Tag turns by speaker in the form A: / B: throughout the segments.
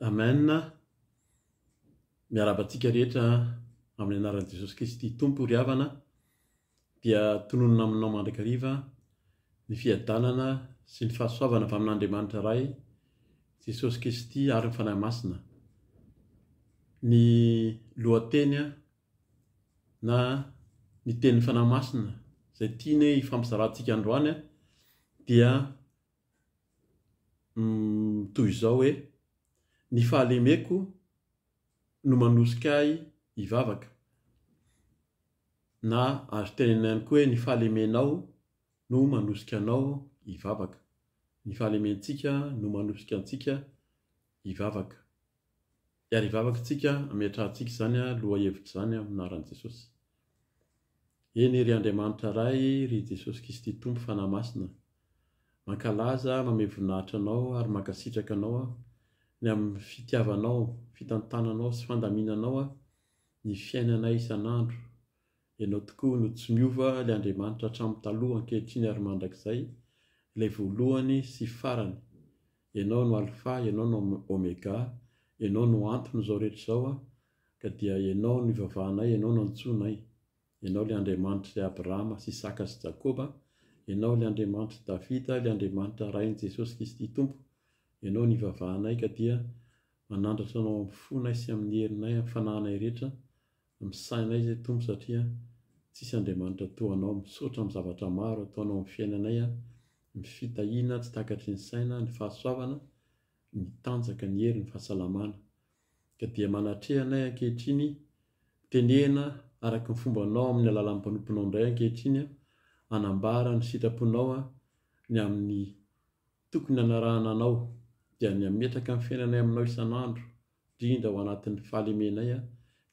A: Amen, miarahaba antsika rehetra amin'ny anaran'i Jesosy Kristy Tompo ry havana, dia tononina aminao mandrakariva ny fiadanana sy ny fahasoavana avy amin'Andriamanitra Ray, Jesosy Kristy ary ny Fanahy Masina. Ny lohateny na ny tenin'ny Fanahy Masina izay tiany hoe hifampizarantsika androany dia toy izao hoe, Ny fahalemeko no manosika ahy hivavaka, na azo tenenina ihany koa hoe, Ny fahalemenao no manosika anao hivavaka. Ny fahalementsika no manosika antsika hivavaka. Iarivavaka tsika ametrahantsika izany lohahevitra izany amin'ny anaran'i Jesosy. Eny ry Andriamanitra Ray ry Jesosy Kisty Tompo Fanahy Masina mankalaza mamehy voninahitra Anao ary mankasitraka Anao aho ny amin'ny fitiavanao, fitantananao sy fandaminanao aho ny fiainanay isan'andro Ianao tokoa no tsy miova, ilay Andriamanitra hatramin'ny taloha, ankehitriny ary mandrakizay, ilay voalohany sy farany. Ianao no Alfa, Ianao no Omega, Ianao no anton'izao rehetra izao, ka dia Ianao no ivavahanay, Ianao no antsoinay. Ianao ilay Andriamanitr'i Abrahama sy Isaka sy Jakoba, Ianao ilay Andriamanitr'i Davida, ilay Andriamanitra Rain'i Jesosy Kristy Tompo. Ianao no ivavahanay, ka dia manandratra Anao amin'ny fonay sy amin'ny herinay, amin'ny fanahinay rehetra, Misaina anay izay Tompo satria tsisy Andriamanitra toa anao, misaotra amin'ny zavatra maro ataonao amin'ny fiainanay an, ny fitahiana tsy takatry ny saina, ny fahasoavana, ny tanjaka, ny hery, ny fahasalamana. Ka dia manatreha anay ankehitriny, tenehina araka ny fombanao amin'ny alalan'ny mpanomponao indray ankehitriny an, hanambara ny sitraponao an, ny amin'ny tokony hanarahana anao, dia ny hametraka ny fiainanay aminao isan'andro, Indrindra ao anatin'ny fahalemenay a,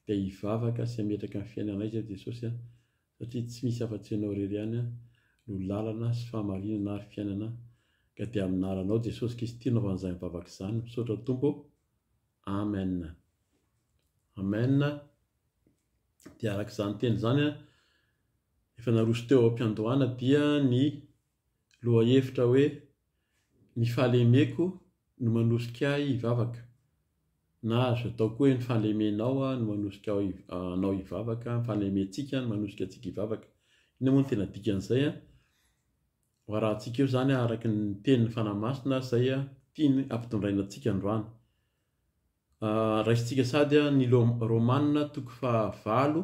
A: dia hivavaka sy hametraka ny fiainanay Izay Jesosy a, satria tsy misy afa-tsy Ianao irery ihany a, no lalana sy fahamarinana ary fiainana, ka dia amin'ny anaranao Jesosy Kristy no hanaovan'izany vavaka izany, misaotra Tompo ô, Amen. Amen, dia araka izany teny izany a, efa naroso teo am-piandohana dia ny lohahevitra hoe, Ny fahalemeko no manosika ahy hivavaka, na azo atao koa hoe ny fahalemenao no manosika anao hivavaka, ny fahalementsika no manosika antsika hivavaka. Inona moa no tena dikan'izay an? Ho arahantsika eo izany araka ny tenin'ny Fanahy Masina izay tiany hampitondraina antsika androany. Raisintsika sady ny Romana toko fahavalo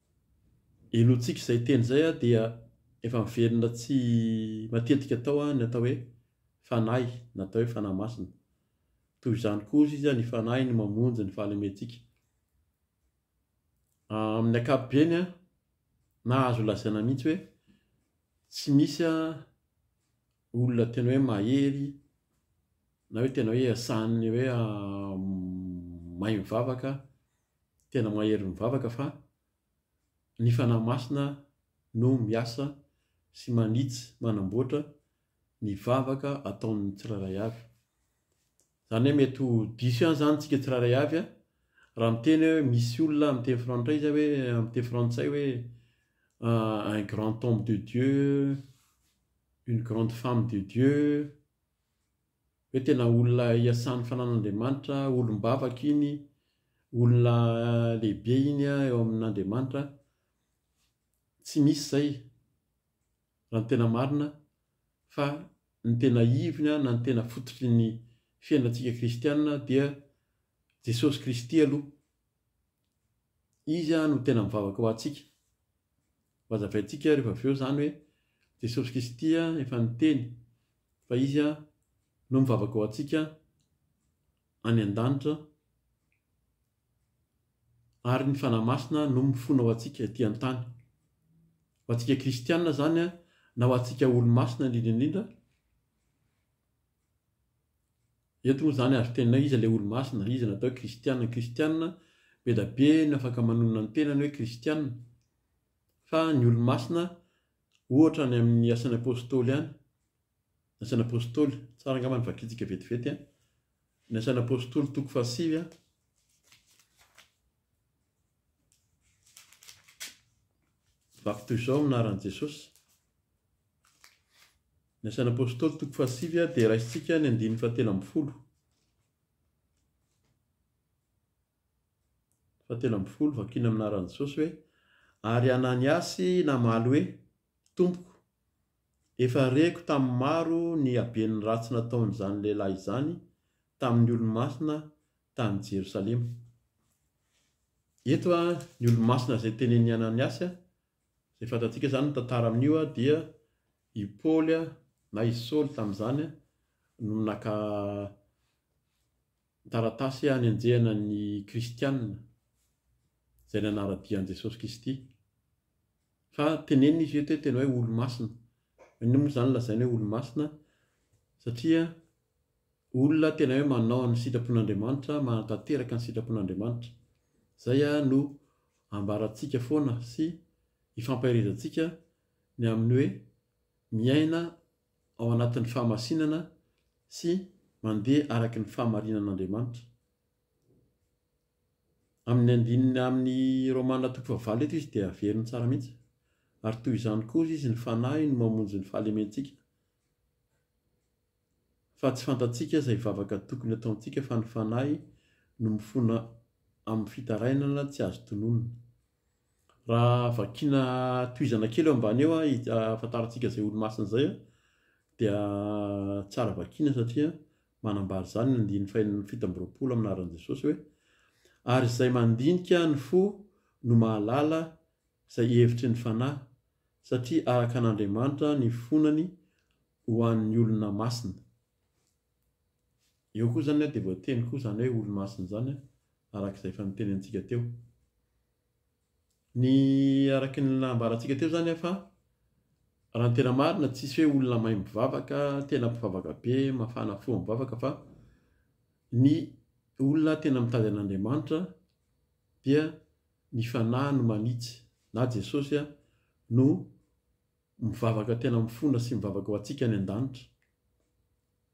A: Helohintsika izay teny izay dia efa miverina tsy matetika tao ny atao hoe fanahy na atao hoe fanahy masina. Toy izany koa hozy izy ny fanahy no mamonjy ny fahalementsika. Amin'ny ankapobeny na azo lazaina mihitsy hoe tsy misy olona tena hoe mahery na hoe tena hoe sahanin'ny hoe mahay mivavaka. tena mahery mivavaka fa ny Fanahy Masina no miasa sy manitsy manamboatra ny vavaka ataon'ny tsirairay avy. Zany hoe mety ho diso ihany zany tsika tsirairay avy a, raha miteny hoe misy olona amin'ny teny frantsay zay hoe amin'ny teny frantsay hoe un grand homme de Dieu, une grande femme de Dieu, hoe tena olona iasan'ny fanan'Andriamanitra, olom-bavaka iny, olona lehibe iny eo amin'Andriamanitra, tsy misy izay raha ny tena marina fa ny tena ivony na ny tena fototry ny fiainantsika kristiana dia Jesosy Kristy aloha, Izy no tena mivavaka ho antsika. Hazavaintsika rehefa avy eo izany hoe Jesosy Kristy efa niteny fa Izy no mivavaka ho antsika any an-danitra ary ny Fanahy Masina no mifona ho antsika ety an-tany. Ho antsika kristiana izany na ho antsika olo-masina indrindra indrindra, Eto moa izany azo tenenina hoe iza ilay Olomasina? Iza no atao hoe Kristiana? Ny Kristiana, be dia be no afaka manonona ny tenany hoe Kristiana. Fa ny Olomasina, ohatra any amin'ny Asan'ny Apôstôly any, ny Asan'ny Apôstôly, tsara angamba ny vakintsika vetivety an, ny Asan'ny Apôstôly toko fahasivy an, Baptizao amin'ny anaran'i Jesosy. Ny asan'ny Apôstôly toko fahasivy dia raisintsika ny andininy fahatelo ambin'ny folo. Fahatelo ambin'ny folo, vakina amin'ny anaran'i Jesosy hoe, ary Ananiasy namaly hoe, Tompoko, efa reko tamin'ny maro ny haben'ny ratsy nataon'izany lehilahy izany tamin'ny olo-masina tany Jerosalema. Eto ny olomasina izay tenenin'i Ananiasy, izay fantatsika izany ny tantara amin'io dia i Paoly na i Saoly tamin'izany no naka taratasy hanenjehana ny kristianina izay nanara-dia an'i Jesosy Kristy. Fa tenenina izy eto hoe tena hoe olomasina. Inona moa izany lazaina hoe olomasina? Satria olona tena hoe manao ny sitrapon'Andriamanitra, manatanteraka ny sitrapon'Andriamanitra. Izay no ambarantsika foana sy ifampaherezantsika ny amin'ny hoe miaina ao anatin'ny fahamasinana sy mandeha araka ny fahamarinan'Andriamanitra. Amin'ny andininy amin'ny Romana toko fahavalo eto izy dia averiny tsara mihitsy, ary toy izany koa izy ny fanahy no mamonjy ny fahalementsika. Fa tsy fantatsika izay vavaka tokony ataontsika fa ny fanahy no mifona amin'ny fitarainana tsy azo tononina. Raha vakiana tohizana kely eo ambany eo ahafantarantsika izay olomasina izay dia tsara vakiana satria manambara izany ny andininy fahenina fito amby roapolo amin'ny anaran'i Jesosy hoe ary izay mandinika ny fo no mahalala izay hevitry ny fanahy satria araka an'Andriamanitra ny fonany ho an'ny olona masina. Eo koa izany dia voateny koa izany hoe olo-masina izany araka izay efa niteny antsika teo. Ny araka ny nambarantsika teo izany fa raha ny tena marina tsisy hoe olona maimbo vavaka, tena mpivavaka be, mafana fo amin'ny vavaka fa ny olona tena mitady an'Andriamanitra dia ny fanahy no manitsy na Jesosy no Mivavaka tena mifona sy mivavaka ho antsika any an-danitra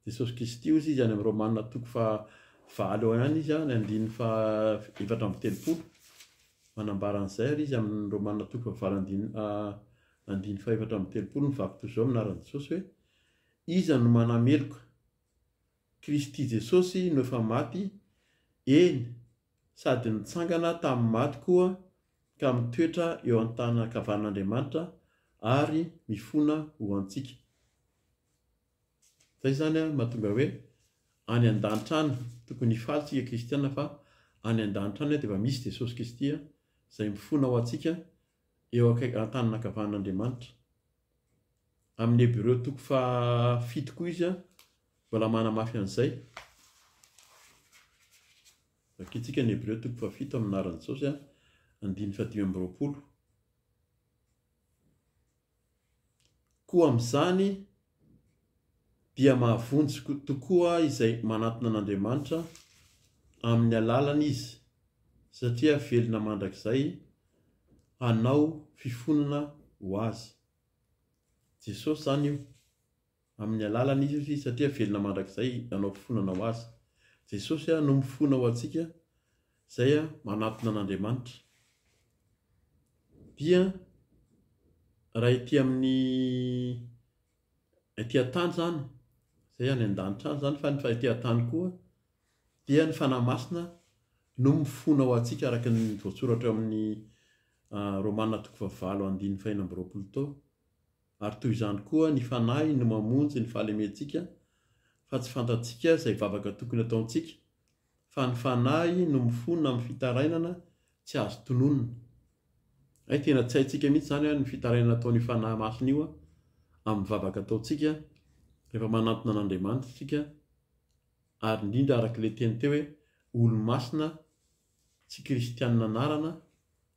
A: Jesosy Kristy hozy izy any amin'ny Romana toko faha valo eo ihany izy ny andininy faha efatra amby telopolo manambara an'izay ary izy amin'ny Romana toko faha valo andininy andininy faha efatra amby telopolo ny vaky toy izao ny anaran'i Jesosy hoe Iza no manameloka? Kristy Jesosy no efa maty, eny, sady nitsangana tamin'ny maty koa ka mitoetra eo an-tanana an-kavanin'Andriamanitra ary mifona ho antsika. Izay izany no mahatonga hoe any an-danitra any, tokony hifaly isika kristiana fa any an-danitra any dia efa misy Jesosy Kristy izay mifona ho antsika eo akaiky, an-tanana an-kavanin'Andriamanitra. Amin'ny Hebreo toko fahafito koa izy mbola manamafy an'izay. Vakintsika ny Hebreo toko fahafito amin'ny anaran'i Jesosy, andininy fahadimy amby roapolo. Koa amin'izany dia mahavonjy tokoa izay manatona an'Andriamanitra amin'ny alalany izy, satria velona mandrakizay hanao fifonana ho azy. Jesosy izany io. Amin'ny alalan'i Jesosy, satria velona mandrakizay, nanao fifonana ho Azy. Jesosy no mifona ho antsika, izay manatona an'Andriamanitra. Dia raha ety amin'ny ety an-tany izany, izay any an-danitra any izany, fa ny ety an-tany koa, dia ny Fanahy Masina no mifona ho antsika araka ny voasoratra ao amin'ny Romana toko fahavalo andininy fahena amby roapolo tao. Ary toy izany koa ny Fanahy no mamonjy ny fahalementsika fa tsy fantatsika izay vavaka tokony ataontsika, fa ny Fanahy no mifona amin'ny fitarainana tsy azo tononina. Hay tena tsy haintsika mihitsy izany an ny fitarainana ataon'io Fanahy Masina io an amin'ny vavaka ataontsika rehefa manantona an'Andriamanitra isika ary indrindra arak'ilay teny teo hoe olo-masina tsy kristianina anarana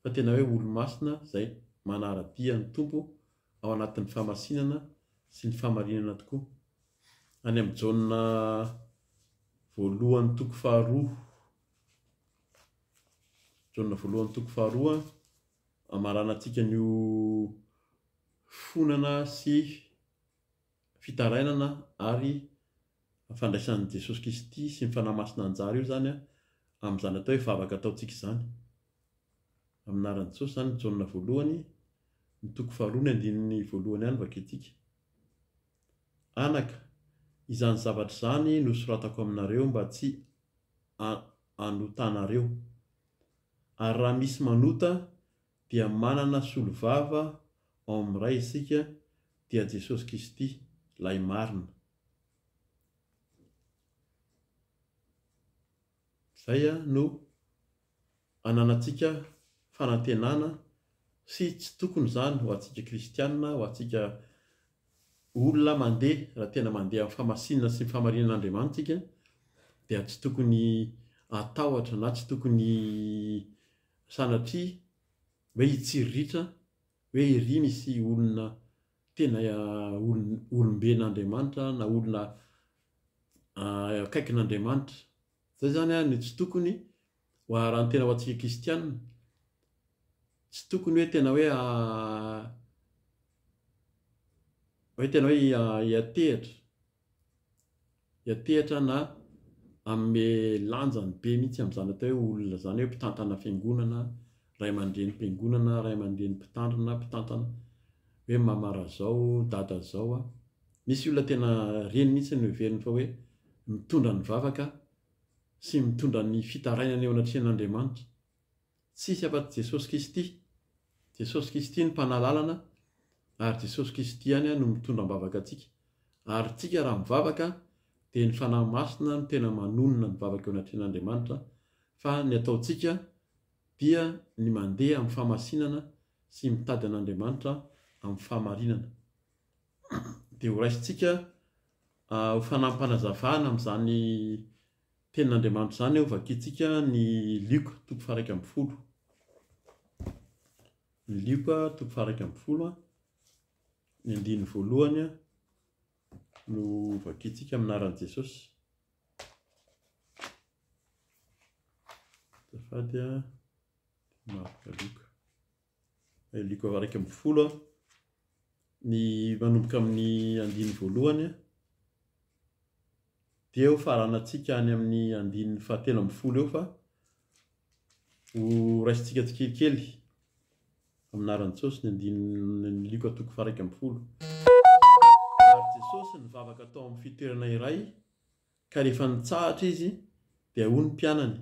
A: fa tena hoe olomasina izay manara-dia ny Tompo ao anatin'ny fahamasinana sy ny fahamarinana tokoa. Any amin'ny Jaona voalohany toko faharoa Jaona voalohany toko faharoa amarana antsika an'io fonana sy fitarainana ary fandraisan'i Jesosy Kristy sy ny Fanahy Masina anjara eo izany amin'izany atao hoe vavaka ataontsika izany. Amin'ny anaran'i Jesosy izany ny Jaona voalohany, ny toko faharoa ny andininy voalohany ihany vakintsika. Anaka, izany zavatra izany nosoratako aminareo mba tsy hanotanareo. Ary raha misy manota dia manana solovava ao amin'ny Ray isika dia Jesosy Kisty lay marina. Zay no ananantsika fanantenana sy tsy tokony zany ho antsika kristianina, ho antsika olona mandeha raha tena mandeha amin'ny famasinana sy ny famarinan'Andriamanitra tsika dia tsy tokony atahotra na tsy tokony Sanatria hoe hitsiriritra hoe ery misy olona tena olom-ben'Andriamanitra na olona akaikin'Andriamanitra. Izay izany ary no tsy tokony raha ny tena ho antsika kristianina. Tsy tokony hoe tena hoe hoe tena hoe hiantehitra. hiantehatra na hanome lanjany be mihitsy amin'izany atao hoe olona izany hoe mpitantana fiangonana, ray aman-drenim-piangonana, ray aman-dreny mpitandrina, mpitantana, hoe mama razao, dada zao a. Misy olona tena reny mihitsy no heveriny fa hoe mitondra ny vavaka sy mitondra ny fitarainana eo anatrehan'Andriamanitra. Tsisy afa-tsy Jesosy Kristy. Jesosy Kristy no Mpanahy Lalana ary Jesosy Kristy ihany no mitondra am-bavaka antsika. Ary tsika raha mivavaka dia ny Fanahy Masina no tena manonona ny vavaka eo anatrehan'Andriamanitra fa ny ataontsika dia ny mandeha amin'ny famasinana sy mitady an'Andriamanitra amin'ny fahamarinana. Dia horaisintsika ho Fanahy-mpanazavana amin'izany Tenin'Andriamanitra izany ao Vakintsika ny Lioka toko faha iraika ambin'ny folo. Ny Lioka toko faha iraika ambin'ny folo, ny andininy voalohany no vakintsika amin'ny anaran'i Jesosy. Azafady a, Marka, Lioka. Luka iraika ambin'ny folo a, ny manomboka amin'ny andininy voalohany a, dia ho faranantsika any amin'ny andininy fahatelo ambin'ny folo eo fa ho raisintsika tsikelikely amin'ny anaran'i Jesosy ny andininy Luka toko faha-iraika ambin'ny folo. Ary Jesosy nivavaka tao amin'ny fitoerana iray ka rehefa nitsahatra izy dia hoy ny mpianany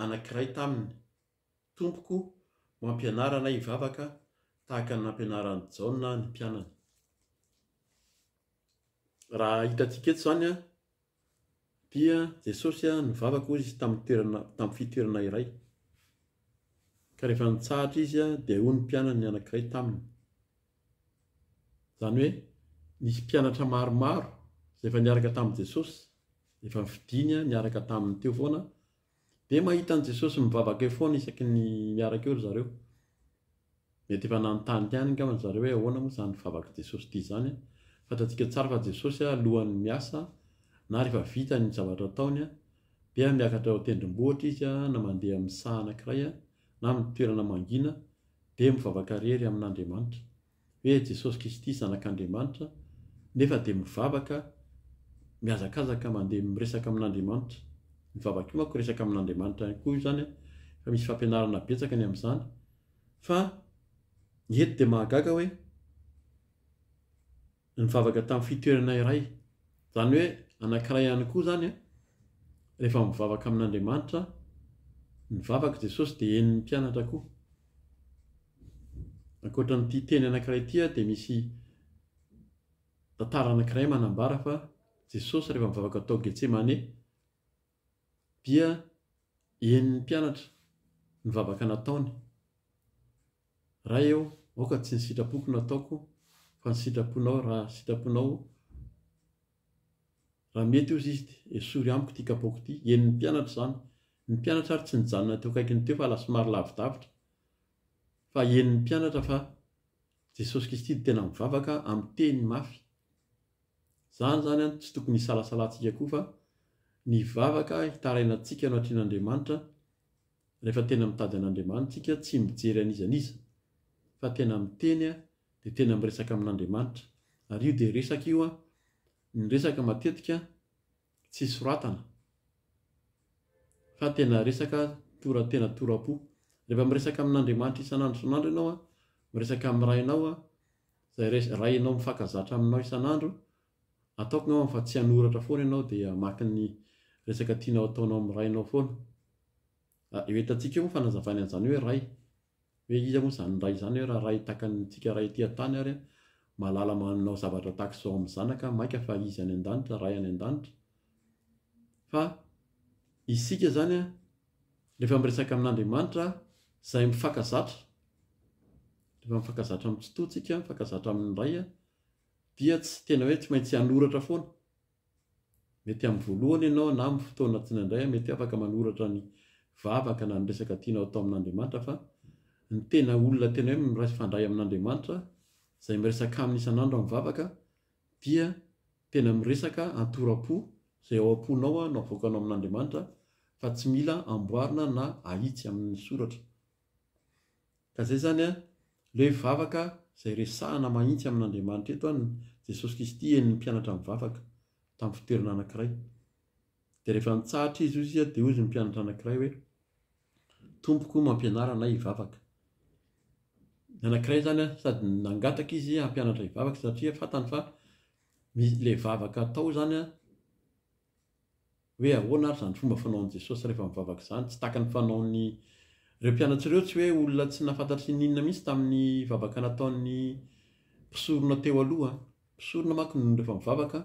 A: anankiray taminy. Tompoko, mampianara anay hivavaka tahaka ny nampianaran'i Jaona ny mpianany. Raha hitantsika eto izany dia Jesosy nivavaka hoy izy tamin'ny toerana, tamin'ny fitoerana iray. Ka rehefa nitsahatra izy dia hoy ny mpianany anankiray taminy. Izany hoe nisy mpianatra maromaro izay efa niaraka tamin'i Jesosy, efa nifidiny niaraka taminy teo foana Dia mahita an'i Jesosy mivavaka eo foana isaky ny miaraka eo ry zareo. Mety efa nanontany ihany angamba ry zareo hoe ahoana moa izany vavak'i Jesosy ity izany. Fantatsika tsara fa Jesosy alohan'ny miasa na rehefa vita ny zavatra ataony dia miakatra eo an-tendrombohitra izy na mandeha amin'ny saha anankiray na amin'ny toerana mangina dia mivavaka irery amin'Andriamanitra. hoe Jesosy Kristy Zanak'Andriamanitra nefa dia mivavaka mihazakazaka mandeha miresaka amin'Andriamanitra, ny vavaka io manko resaka amin'Andriamanitra ihany koa io izany an, efa misy fampianarana betsaka ny amin'izany, fa ny eto dia mahagaga hoe nivavaka tamin'ny fitoerana iray. Izany hoe anankiray ihany koa izany an, rehefa mivavaka amin'Andriamanitra, nivavaka Jesosy dia henon'ny mpianatra koa. Ankoatra an'ity teny anankiray ity an, dia misy tantara anankiray manambara fa Jesosy rehefa mivavaka tao Getsemane, dia henon'ny mpianatra ny vavaka nataony. Ray ô, aoka tsy ny sitrapoko no ataoko fa ny sitraponao raha sitraponao Raha mety ozy izy dia esory amiko ity kapoaka ity. Henon'ny mpianatra izany. Ny mpianatra ary tsy nijanona teo akaikiny teo fa lasa somary lavidavitra. Fa henon'ny mpianatra fa Jesosy Kristy dia tena mivavaka amin'ny teny mafy. Izany izany an, tsy tokony hisalasalantsika koa fa ny vavaka hitaraina antsika eo anatrehan' Andriamanitra, rehefa tena mitady an' Andriamanitra tsika, tsy mijery an'iza n'iza, fa tena miteny an, dia tena miresaka amin' Andriamanitra. Ary io dia resaka io an, ny resaka matetika tsy soratana, fa tena resaka tora tena tora-po. Rehefa miresaka amin' Andriamanitra isan' andro isan' andro ianao an, miresaka amin'ny Rainao an, Zay res raha enao mifakazatra aminao isan'andro, ataoko ngamba fa tsy hanoratra foana ianao dia hamaky ny resaka tianao ataonao amin'ny rainao foana. Ah, eo entantsika eo moa fanazavany an'izany hoe ray. Hoe iza moa izany ray izany hoe raha ray tahaka ny antsika ray ety an-tany ary mahalala manao zavatra tahaka izao amin'ny zanaka maika fa izy any an-danitra, ray any an-danitra. Fa isika izany an, Rehefa miresaka amin'Andriamanitra izay mifankazatra, rehefa mifankazatra amin'ny Tsitoha tsika, mifankazatra amin'ny Ray, dia tsy tena hoe tsy maintsy hanoratra foana. Mety amin'ny voalohany ianao na amin'ny fotoana tiana indray mety hoe afaka manoratra ny vavaka na ny resaka tianao atao amin'Andriamanitra fa ny tena olona tena hoe mifandray amin'Andriamanitra, izay miresaka aminy isan'andro amin'ny vavaka dia Tena miresaka antoram-po izay ao am-ponao aho no avoakanao amin'Andriamanitra fa tsy mila amboarina na ahitsy amin'ny soratra. Ka izay izany an, leo vavaka izay resahana mahintsy amin'Andriamanitra eto an, Jesosy Kristy henon'ny mpianatra mivavaka tamin'ny fitoerana anankiray. Dia rehefa nitsahatra izy hozy dia hozy ny mpianatra anankiray hoe, Tompoko mampianara anay hivavaka. Ny anankiray izany sady nangataka izy hampianatra hivavaka satria fantany fa ilay vavaka atao izany an, hoe ahoana ary izany fomba fanaon'i Jesosy rehefa mivavaka izany. Tsy tahaka ny fanaon'ny, ireo mpianatra ireo tsy hoe olona tsy nahafantatry ny inona mihitsy tamin'ny vavaka nataon'ny mpisorona teo aloha an. Mpisorona manko no rehefa mivavaka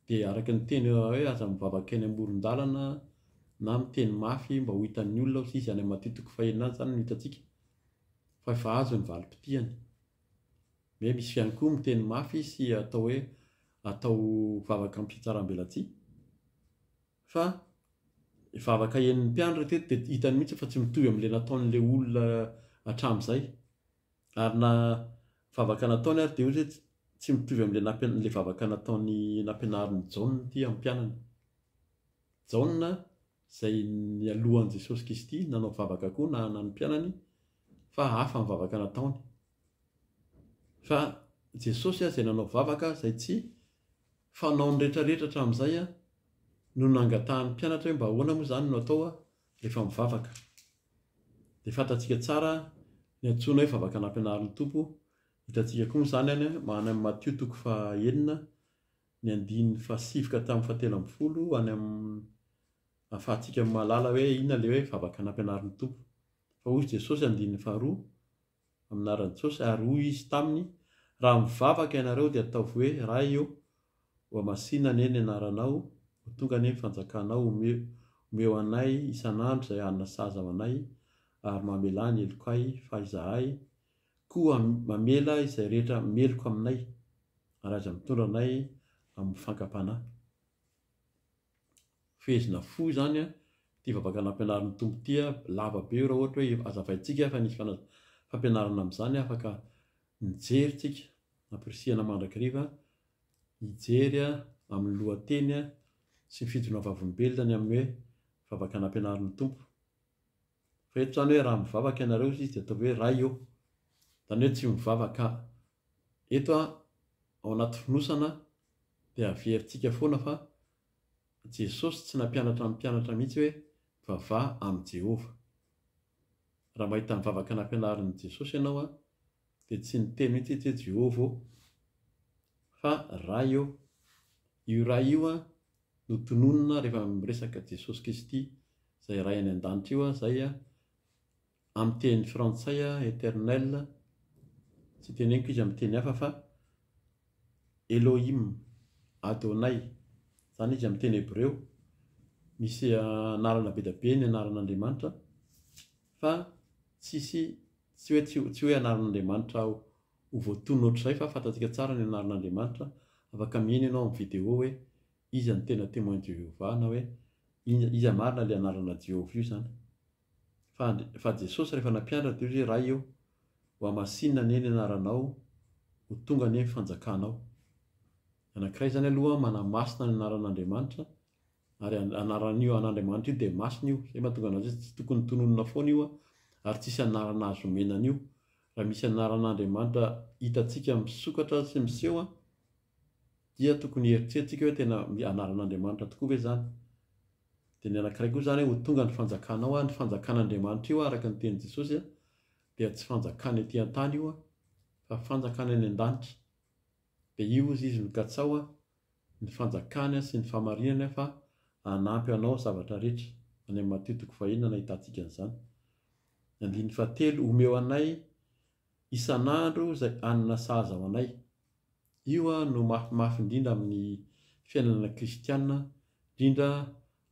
A: dia araka ny teny hoe aza mivavaka eny amoron-dalana na miteny mafy mba ho hitan'ny olona aho sy izy any amin'ny matitiko fahenina any izany no hitantsika fa efa azo ny valim-pitihany. Hoe misy ihany koa miteny mafy sy atao hoe atao vavaka amim-pihatsaram-belatsihy fa vavaka henon'ny mpiandry raha teto dia hitany mihitsy fa tsy mitovy amin'ilay nataon'ilay olona hatramin'izay. Ary na vavaka nataony ary dia hoy izy hoe, Tsy mitovy amin'ilay nampian-, ilay vavaka nataony nampianarin'i Jaona ity hampianany. Jaona, izay nialohan'i Jesosy Kristy nanao vavaka koa na na ny mpianany, fa hafa ny vavaka nataony. Fa Jesosy izay nanao vavaka izay tsy fanaon'ny rehetrarehetra hatramin'izay no nangatahan'ny mpianatra hoe mba ahoana moa izany no atao rehefa mivavaka. Dia fantatsika tsara ny antsoina hoe vavaka nampianarin'ny Tompo, hitantsika koa moa izany any amin'ny Matio toko fahenina ny andininy fahasivy ka hatramin'ny fahatelo ambin'ny folo any amin'ny ahafahantsika mahalala hoe inona ilay hoe vavaka nampianarin'ny Tompo. Fa hoy Jesosy andininy faharoa, amin'ny anaran'i Jesosy, ary hoy izy taminy, Raha mivavaka ianareo, dia ataovy hoe, Ray ô, ho hamasinina anie ny anaranao, ho tonga anie ny fanjakanao, omeo anay isan'andro izay hanina sahaza ho anay, ary mamelà ny helokay, fa izahay koa mamela izay rehetra meloka aminay, ary aza mitondra anay amin'ny fankam-panahy. fehezina fo izany an, ity vavaka nampianarin'ny Tompo ity an, lava be io raha ohatra hoe azavaintsika fa nisy fampianarana amin'izany afaka mijery tsika ampirisihana mandrakiriva hijery an amin'ny lohateny an sy ny fijona vavolombelona ny amin'ny hoe vavaka nampianarin'ny Tompo. Fa eto izany hoe raha mivavaka ianareo izy dia ataovy hoe Ray ô. Izany hoe tsy mivavaka eto ao anaty fonosana dia averintsika foana fa Jesosy tsy nampianatra ny mpianatra mihitsy hoe mivavaha amin'i Jehovah. Raha mahita ny vavaka nampianarin'i Jesosy ianao dia tsy niteny mihitsy izy hoe Jehovah ô fa Ray ô. Io Ray io no tononina rehefa miresaka Jesosy Kristy izay Ray any an-danitra io aho izay amin'ny teny frantsay Eternel tsy teneniko izy amin'ny teny hafa fa Elohim Adonai izany izy amin'ny teny hebreo misy anarana be dia be ny anaran'Andriamanitra fa tsisy tsy hoe tsy hoe anaran'Andriamanitra Ho voatonona ohatr'izay fa fantatsika tsara ny anaran'Andriamanitra, afaka miheno ianao amin'ny video hoe Iza no tena Témoin de Jéhovah na hoe Iza iza marina ilay anarana Jehovah io izany. Fa Andri fa Jesosy rehefa nampianatra dia hoy izy hoe Ray ô, ho hamasinina anie ny anaranao, ho tonga anie ny fanjakanao. Anankiray izany aloha manamasina ny anaran'Andriamanitra ary an anaran'io an'Andriamanitra io dia masina io, izay mahatonga anazy hoe tsy tokony tononina foana io ary tsisy anarana azo omena an'io Raha misy anaran'Andriamanitra hitantsika misokatra sy miseho dia tokony hieritreretintsika hoe tena anaran'Andriamanitra tokoa ve izany? Dia ny anankiray koa izany hoe ho tonga ny fanjakanao, ny fanjakan'Andriamanitra io araka ny tenin'i Jesosy dia tsy fanjakana ety an-tany io fa fanjakana any an-danitra, dia io hozy izy no katsaho ny fanjakany sy ny fahamarinany fa hanampy anao zavatra rehetra, any amin'ny Matio toko fahenina no ahitantsika an'izany. Andininy fahatelo, omeo anay isan'andro izay hanina sahaza ho anay. Io no mafimafy indrindra amin'ny fiainana kristiana, indrindra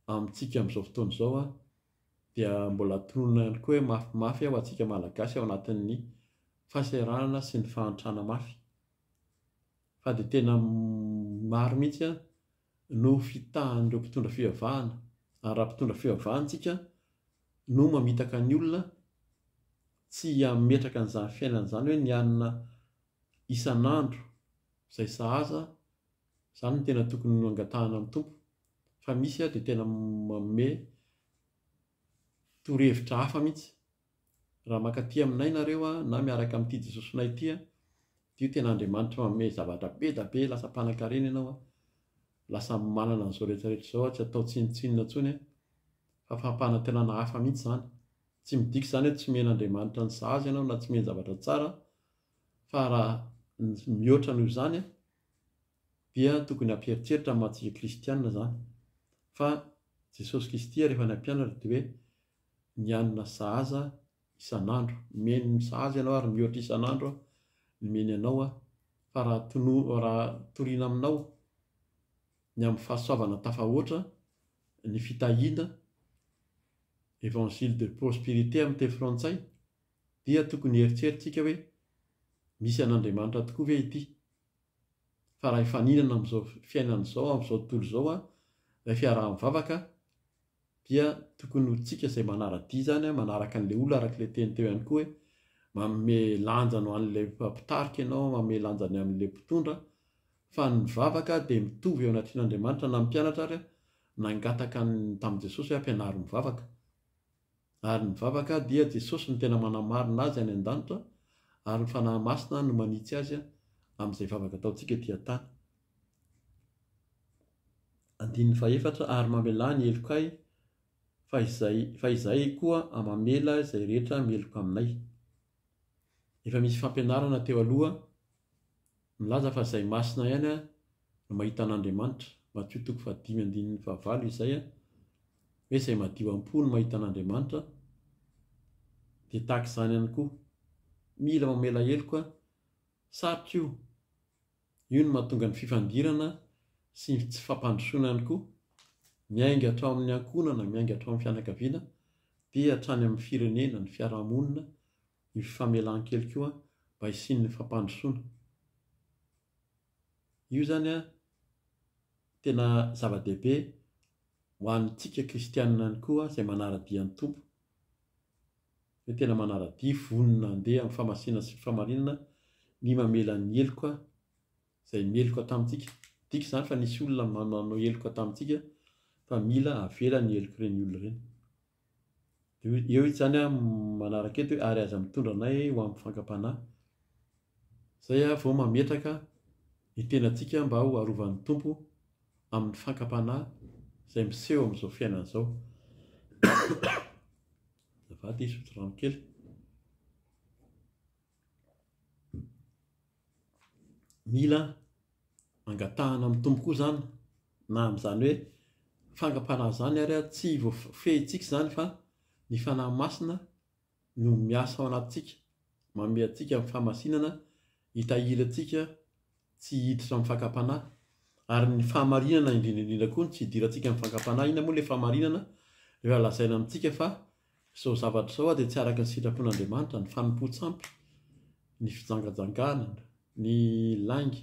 A: amintsika amin'izao fotoana izao, dia mbola tononina ihany koa hoe mafimafy ho antsika Malagasy ao anatin'ny fahasahiranana sy ny fahantrana mafy. fa dia tena maro mihitsy no fitahan'ireo mpitondra fivavahana, ary raha mpitondra fivavahana isika no mamitaka ny olona tsy hametraka an'izany fiainana izany hoe ny hanina isan'andro izay sahaza, izany no tena tokony hangatahana amin'ny Tompo, fa misy dia tena manome torohevitra hafa mihitsy. Raha mankaty aminay nareo a, na miaraka amin'ity Jesosinay ity a, dia io tena Andriamanitra manome zavatra be da be, lasa mpanankarena ianao a, lasa manana an'izao rehetra rehetra izao a, tsy atao tsinontsinona intsony a, fa fampanantenana hafa mihitsy izany. Tsy midika izany hoe tsy omen'Andriamanitra ny sahaza ianao na tsy omeny zavatra tsara, fa raha ny mihoatra noho izany a, dia tokony hampieritreritra ny maha-tsika kristiana izany, fa Jesosy Kristy ary efa nampianatra dia hoe mianina sahaza isan'andro, omeny ny sahaza ianao ary mihoatra isan'andro aho ny omeny anao aho, fa raha tono, raha torina aminao ny amin'ny fahasoavana tafahoatra, ny fitahiana, Evangile de prosperité amin'ny teny frantsay, dia tokony hieritreritsika hoe misy an'Andriamanitra tokoa ve ity? fa raha hifaninana amin'izao fiainana izao, amin'izao tontolo izao ilay fiaraha-mivavaka dia tokony ho tsika izay manara-dia izany, manaraka an'ilay olona araka ilay teny teo ihany koa hoe manome lanja ho an'ilay mpitarika ianao, manome lanja ny amin'ilay mpitondra, fa ny mivavaka dia mitovy eo anatrehan'Andriamanitra na ny mpianatra ary nangataka tamin'i Jesosy hoe ampianaro mivavaka. Ary ny vavaka dia Jesosy no tena manamarina azy any an-danitra ary ny Fanahy Masina no manitsy azy amin'izay vavaka ataontsika ety an-tany. Andininy fahefatra, ary mamelà ny helokay fa izay fa izahay koa mamela izay rehetra meloka aminay. Efa misy fampianarana teo aloha. Milaza fa izay masina ihany no mahita an'Andriamanitra, Matio toko fahadimy andininy fahavalo izay hoe izay madio am-po no mahita an'Andriamanitra, dia tahaka izany ihany koa, mila mamela heloka, sarotra io, io no mahatonga ny fifandirana sy ny tsy fampandrosoana ihany koa, miainga hatrao amin'ny ankohonana, miainga hatrao amin'ny fianakaviana, dia hatrany amin'ny firenena, ny fiaraha-monina, ny fifamelan-keloka io an, mba hisian'ny fampandrosoana. Io izany an, tena zava-dehibe ho antsika kristianina ihany koa izay manara-dia ny Tompo, hoe tena manara-dia, vonona handeha amin'ny famasinana sy ny fahamarinana ny mamela ny heloka izay meloka tamintsika. Midika izany fa nisy olona nanao heloka tamintsika fa mila avela ny helok'ireny olona ireny. Dia eo izy izany manaraka eto hoe ary aza mitondra anay ho amin'ny fankam-panahy. Izay aho vao mametraka ny tenantsika mba ho arovan'ny Tompo amin'ny fankam-panahy izay miseho amin'izao fiainana izao. Azafady hisotro rano kely. Mila angatahana amin'ny Tompo koa izany, na amin'izany hoe fangam-panahy izany ary tsy voafehintsika izany fa ny Fanahy Masina no miasa ao anatintsika, manome antsika ny fahamasinana hitahiry antsika tsy hiditra amin'ny fankam-panahy. Ary ny fahamarinana indrindra indrindra koa no tsy hidirantsika amin'ny fankam-panahy. Inona moa ilay fahamarinana? Rehefa lazaina amintsika fa Izao zavatra izao ary dia tsy araka ny sitrapon'Andriamanitra, ny fanompoan-tsampy, ny fijangajanganana, ny lainga,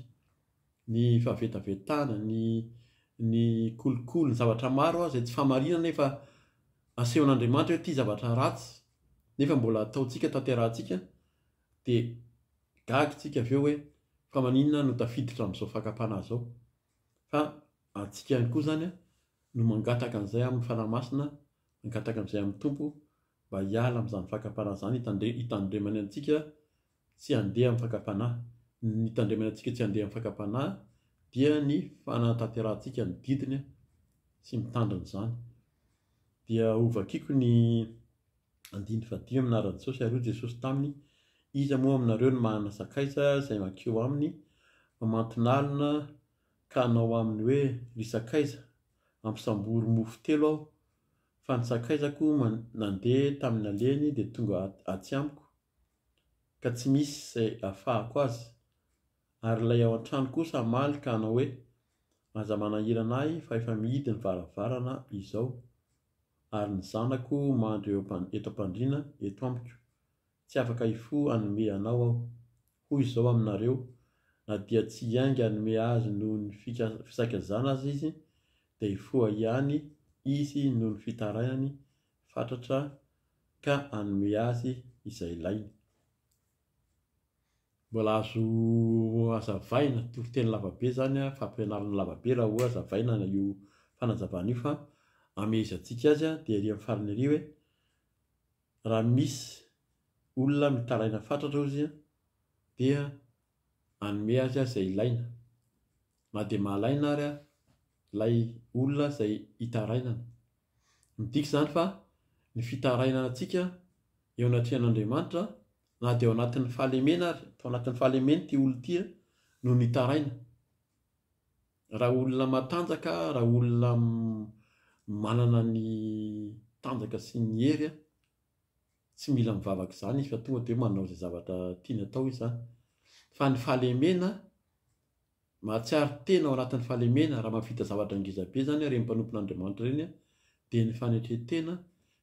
A: ny fahavetavetana, ny ny kolikoly, ny zavatra maro izay tsy fahamarinana nefa asehon'Andriamanitra hoe ity zavatra ratsy nefa mbola ataontsika, tanterahantsika, dia gaga isika avy eo hoe fa maninona no tafiditra amin'izao fakam-panahy izao? Fa antsika ihany koa izany no mangataka an'izay amin'ny Fanahy Masina Mangataka amin'izay amin'ny Tompo mba hiala amin'izany fakam-panahy izany hitandre- hitandremany antsika tsy handeha amin'ny fakam-panahy. Ny hitandremany antsika tsy handeha amin'ny fakam-panahy dia ny fanatanterahantsika ny didiny sy mitandrina izany. Dia hovakiko ny andininy fahadimy amin'ny anaran'i Jesosy ary hoy Jesosy taminy, Iza moa aminareo no manana sakaiza izay mankeo aminy mamanton'alina ka hanao aminy hoe, Ry sakaiza, hampisambory mofo telo aho fa ny sakaizako nandeha tamin'ny nalehany dia tonga atsy amiko ka tsy misy izay afahako azy ary ilay ao an-trano kosa hamaly ka hanao hoe aza manahirana ahy fa efa mihidy ny varavarana izao ary ny zanako mandry eto am-pandriana eto amiko Tsy afaka hifoha hanome anao aho. Hoy izao aminareo, Na dia tsy hiainga hanome azy noho ny fisakazana aza izy, dia hifoha ihany izy noho ny fitarainany fatratra ka hanome azy izay ilainy. Mbola azo hazavaina, toriteny lavabe izany, fampianarana lavabe raha hoe hazavaina io fanazavana io fa hamehezantsika azy dia ery amin'ny farany ery hoe, Raha misy olona mitaraina fatratra ozy an, dia hanome azy aho izay ilaina, na dia mahalaina ary aho ilay olona izay hitarainana. Midika izany fa ny fitarainana antsika eo anatrehan'Andriamanitra, na dia ao anatin'ny fahalemena ary, tao anatin'ny fahalemeny ity olona ity no nitaraina. Raha olona matanjaka, raha olona manana ny tanjaka sy ny hery, tsy mila mivavaka izany izy fa tonga dia manao izay zavatra tiany atao izy izany. Fa ny fahalemena, mahatsiaro tena ao anatin'ny fahalemena raha mahavita zavatra ngeza be izany ireny mpanompon'Andriamanitra ireny dia ny fanetren-tena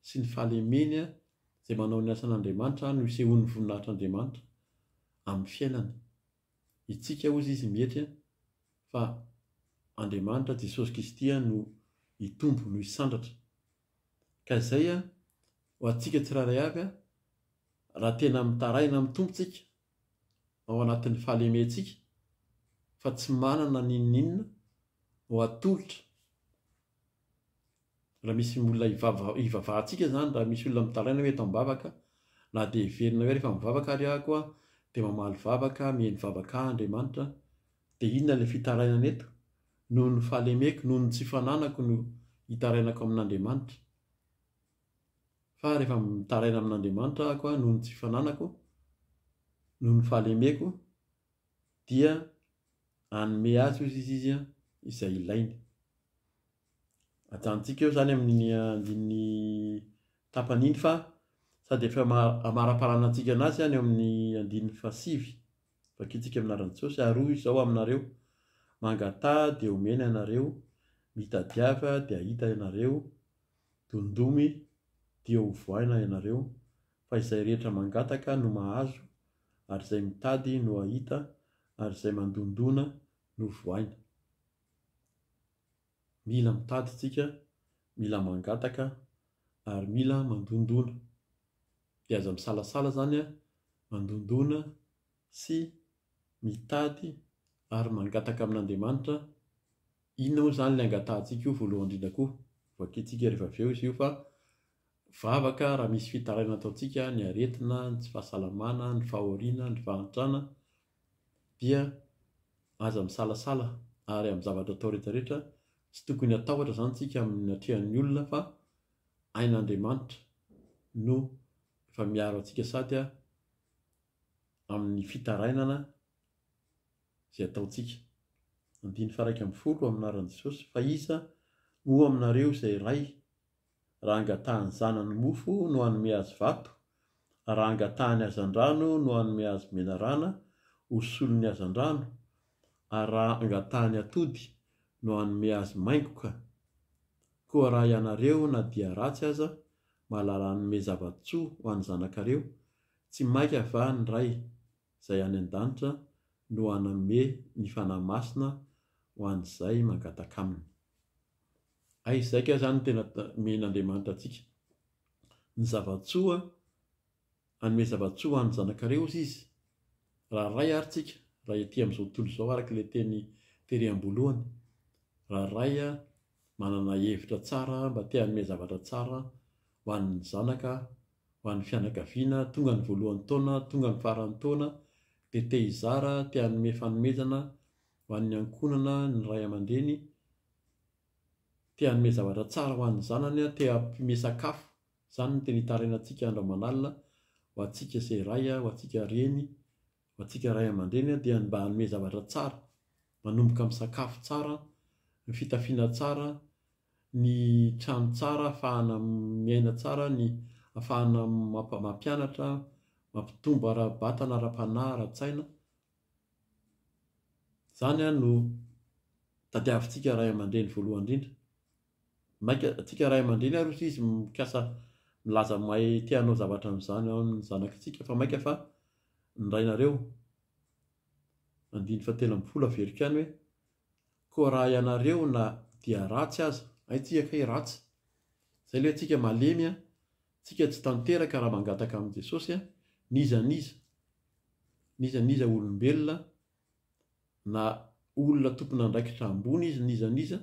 A: sy ny fahalemeny izay manao ny asan'Andriamanitra no isehoan'ny voninahitr'Andriamanitra amin'ny fiainany. Hitsika hozy izy mietry a, fa Andriamanitra Jesosy Kristy a no hitombo no hisandratra. Ka izay a, ho antsika tsirairay avy a, raha tena mitaraina amin'ny Tompo tsika, ao anatin'ny fahalementsika, fa tsy manana n'inon'inona ho atolotra, Raha misy olona hivava- hivavahantsika izany, raha misy olona mitaraina hoe eto am-bavaka, na dia heverina hoe rehefa mivavaka ary aho koa dia mamaly vavaka, miheno vavaka ahy Andriamanitra, dia inona ilay fitarainana eto? Noho ny fahalemeko, noho ny tsy fananako no hitarainako amin'Andriamanitra. Fa rehefa mitaraina amin'Andriamanitra aho koa noho ny tsy fananako, noho ny fahalemeko, dia hanome azy hoy izy izay ilainy. ajanontsika eo izany amin'iny andininy tapany iny fa sady efa amaraparana antsika anazy izany eo amin'ny andininy fahasivy vakintsika amin'ny anaran'i Jesosy ary hoy izao aminareo mangataha dia homena ianareo mitadiava dia hahita ianareo dondomy dia ho voaina ianareo fa izay rehetra mangataka no mahazo ary izay mitady no hahita ary izay mandondona no voaina Mila mitady tsika, mila mangataka ary mila mandondona. Dia aza misalasala zany a, mandondona sy mitady ary mangataka amin'Andriamanitra, inona moa zany le angatahantsika io voalohany indrindra koa, voakintsika rehefa avy eo izy io fa vavaka raha misy fitarainana ataontsika, ny aretina, ny tsy fahasalamana, ny fahoriana, ny fahantrana, dia aza misalasala ary amin'ny zavatra atao rehetra rehetra, tsy tokony hatahotra izany isika amin'ny atrehan'ny olona fa ain'Andriamanitra no efa miaro antsika sady amin'ny fitarainana izay ataontsika. Andiny faha iraika ambin'ny folo, amin'ny anaran'i Jesosy, fa iza moa aminareo izay ray raha angatahan'ny zanany mofo no hanome azy vato, raha angatahany hazandrano no hanome azy menarana ho solon'ny hazandrano, ary raha angatahany atody no hanome azy maingoka. Koa raha ianareo na dia ratsy aza mahalala hanome zava-tsoa ho an'ny zanakareo, tsy mainka va ny Ray izay any an-danitra no hanome ny Fanahy Masina ho an'izay mangataka Aminy? Hay izay kay izany no tena omen'Andriamanitra antsika. Ny zava-tsoa, hanome zava-tsoa ho an'ny zanakareo hozy Izy. Raha Ray àry tsika, raha ety amin'izao tontolo izao, araka ilay teny tery am-boalohany, raha Ray manana hevitra tsara mba te hanome zavatra tsara ho an'ny zanaka, ho an'ny fianakaviana, tonga ny voalohan'ny taona, tonga ny faran'ny taona, dia te hizara, te hanome fanomezana, ho an'ny ankohonana ny ray aman-dreny te hanome zavatra tsara ho an'ny zanany, te hampiome sakafo, izany no tena itarainantsika andro aman'alina ho antsika se ray, ho antsika reny, ho antsika ray aman-dreny dia ny mba hanome zavatra tsara, manomboka amin'ny sakafo tsara, ny fitafiana tsara, ny trano tsara ahafahana miaina tsara, ny ahafahana mampianatra, mampitombo ara-batana, ara-panahy, ara-tsaina. Izany an no tadiavintsika ray aman-dreny voalohany indrindra. Mainka antsika ray aman-dreny ary hoy izy mikasa milaza mahay te hanao zavatra amin'izany ao amin'ny zanak'antsika fa mainka fa ny rainareo. Andininy fahatelo ambin'ny folo averiko ihany hoe, koa raha ianareo na dia ratsy aza, hay tsika kay ratsy, izay ilay hoe antsika malemy an, Tsika tsy tanteraka raha mangataka amin'i Jesosy n'iza n'iza, n'iza n'iza olombelona na olona tompon'andraikitra ambony izy n'iza n'iza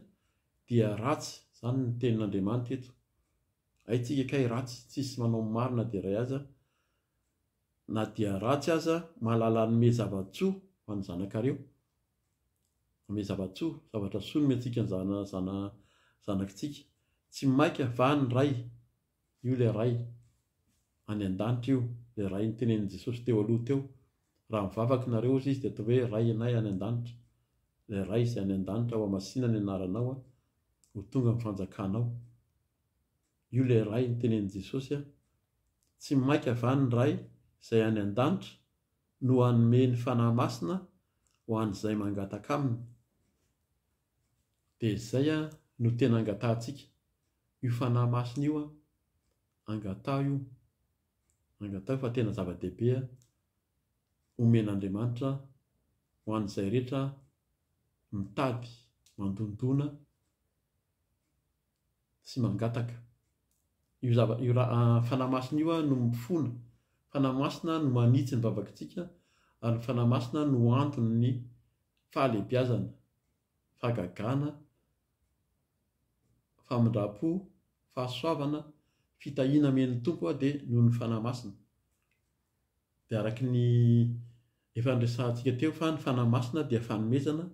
A: dia ratsy zany ny tenin'Andriamanitra eto haintsika kay ratsy tsisy manao ny marina dia ray aza na dia ratsy aza mahalala hanome zava-tsoa ho an'ny zanakareo Amian'i Zavatsoa, Zavatrasoa nomentsika ny zanakintsika. Tsy maika va ny Ray? Io ilay Ray any an-danitra io, ilay Ray notenenin'i Jesosy teo aloha teo. Raha mivavaka ianareo, hozy Izy, dia ataovy hoe, Ray anay any an-danitra. Ilay Ray izay any an-danitra, hohamasina ny anaranao, ho tonga ny fanjakanao. Io ilay Ray notenenin'i Jesosy. Tsy maika va ny Ray izay any an-danitra no hanome ny Fanahy Masina ho an'izay mangataka Aminy. Dia izay no tena angatahantsika, io Fanahy Masina io an! Angataho io, angataho fa tena zava-dehibe homen'Andriamanitra ho an'izay rehetra mitady mandondona, sy mangataka. Io zava- io ra- Fanahy Masina io no mifona. Fanahy Masina no manitsy ny vavakintsika, ary ny Fanahy Masina no anton'ny fahalehibiazana, fahagagana, famindram-po, fahasoavana, fitahiana amen'ny Tompo dia noho ny Fanahy Masina. Dia araka ny efa niresahantsika teo fa ny Fanahy Masina dia fanomezana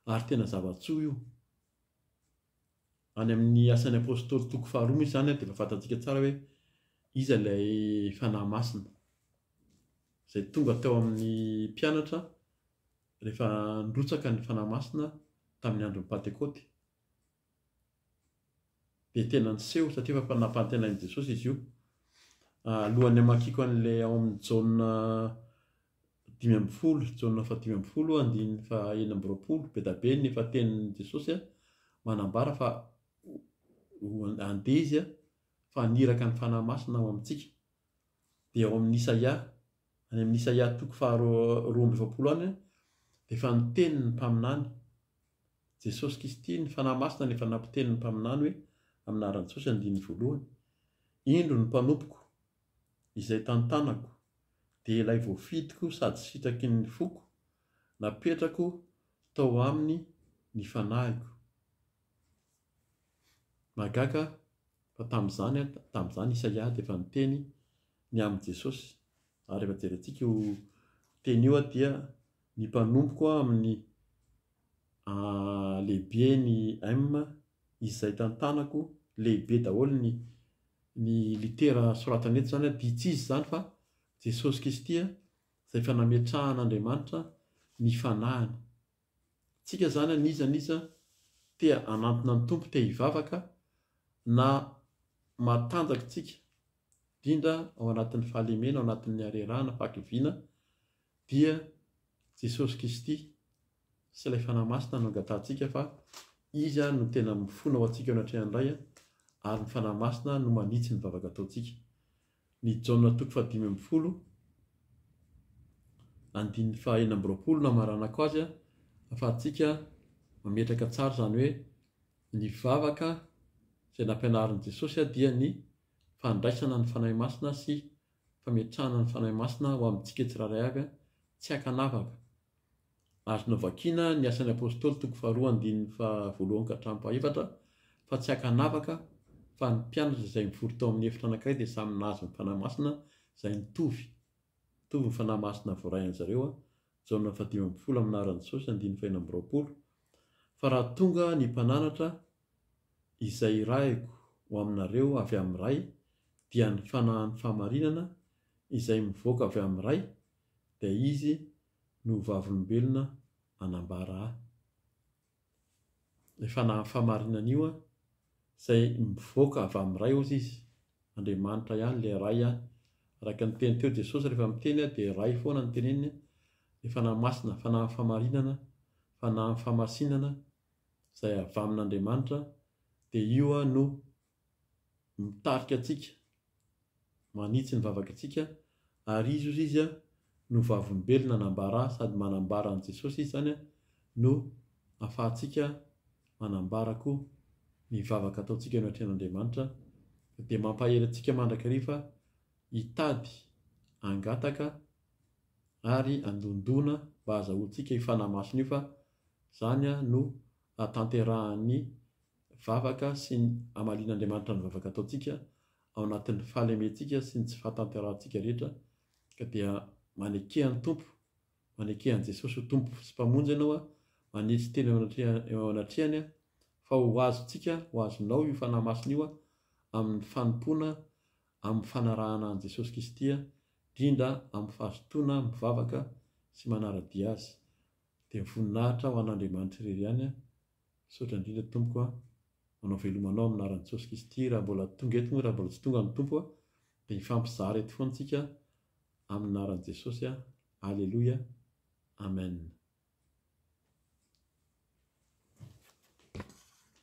A: ary tena zava-tsoa io. any amin'ny Asan'ny Apostoly toko faharoa misy izany dia efa fantantsika tsara hoe iza ilay Fanahy Masina izay tonga teo amin'ny mpianatra rehefa nirotsaka ny Fanahy Masina tamin'ny andron'ny Pantekôty. Dia tena niseho satria efa nampanantenain'i Jesosy izy io. Alohan'ny hamakiako an'ilay ao amin'ny Jaona dimy ambin'ny folo, Jaona faha dimy ambin'ny folo andininy faha enina amby roapolo, be da be ny efa tenin'i Jesosy manambara fa handeha Izy fa haniraka ny Fanahy Masina ao amintsika. Dia ao amin'ny Isaia, any amin'ny Isaia toko faha roa amby efapolo any, dia efa niteny ny mpaminany, Jesosy Kristy, ny Fanahy Masina no efa nampiteny ny mpaminany hoe, amin'ny anaran'i Jesosy andininy voalohany, Indro ny mpanompoko, izay tantanako, dia ilay voafidiko sady sitraky ny foko, napetrako tao aminy ny fanahiko. Mahagaga fa tamin'izany, tamin'izany Isaia dia efa niteny ny amin'i Jesosy. Ary rehefa jerentsika io teny io dia ny mpanompoko amin'ny. Ahh lehibe ny M izay tantanako lehibe daholo ny ny litera soratany eto izany dia tsy iza izany fa Jesosy Kristy a, izay efa nametrahan'Andriamanitra ny fanahiny. Tsika izany an'iza an'iza te hanantona ny Tompo, te hivavaka na matanjaka tsika indrindra ao anatin'ny fahalemena, ao anatin'ny harerahana, fahakiviana dia Jesosy Kristy sy ilay Fanahy Masina no angatahantsika fa Izy no tena mifona ho antsika eo anatrehan'ny Ray ary ny Fanahy Masina no manitsy ny vavaka ataontsika. Ny Jaona toko fahadimy ambin'ny folo andininy faha enina amby roapolo no hamaranako azy ahafahantsika mametraka tsara izany hoe ny vavaka izay nampianarin'i Jesosy dia ny fandraisana ny Fanahy Masina sy fametrahana ny Fanahy Masina ho amintsika tsirairay avy tsy ankanavaka. Azo novakiana ny Asan'ny Apostoly toko faharoa andininy faha voalohany ka hatramin'ny faha efatra fa tsy ankanavaka fa ny mpianatra izay mivory tao amin'ny efitra anankiray dia samy nahazo ny Fanahy Masina izay nitovy mitovy ny Fanahy Masina voarain'ny zareo Jaona faha dimy ambin'ny folo amin'ny anaran'i Jesosy andininy fahenina amby roapolo fa raha tonga ny mpananatra Izay irahiko ho aminareo avy amin'ny Ray dia ny fanahin'ny fahamarinana izay mivoaka avy amin'ny Ray, dia Izy no ho vavolombelona hanambara Ahy. Ilay fanahin'ny fahamarinana io an, izay mivoaka avy amin'ny Ray hozy Izy, Andriamanitra ihany ilay Ray an, araka ny teny teo Jesosy rehefa miteny an dia Ray foana no teneniny, ilay Fanahy Masina, fanahin'ny fahamarinana, fanahin'ny fahamasinana, izay avy amin'Andriamanitra dia io no mitarika antsika, manitsy ny vavakantsika ary izy ozy izy no vavolombelona nambara sady manambara an'i Jesosy izy izany no afahantsika manambara koa ny vavaka ataontsika eo anatrehan'Andriamanitra dia mampahery antsika mandrakariva hitady hangataka ary handondona mba hazahoantsika io fanahy masina io fa Izany no ahatanterahan'ny vavaka sy ny hamalian'Andriamanitra ny vavaka ataontsika ao anatin'ny fahalementsika sy ny tsy fahatanterahantsika rehetra ka dia maneke an'i Tompo, maneke an'i Jesosy ho Tompo sy Mpamonjy ianao a, manitsy teny eo anatrehany aho fa ho azontsika, ho azonao io Fanahy Masina io a, amin'ny fanompoana, amin'ny fanarahana an'i Jesosy Kristy a, indrindra amin'ny fahazotoana mivavaka sy manara-dia Azy. Dia mivoninahitra ho an'Andriamanitra irery ihany aho. Misaotra indrindra Tompoko an. Manao veloma anao amin'ny anaran'i Jesosy Kristy. Raha mbola tonga eto moa, raha mbola tsy tonga ny Tompo an, dia hifampizara eto foana tsika amin'ny anaran'i Jesosy an. Aleloia. Amen.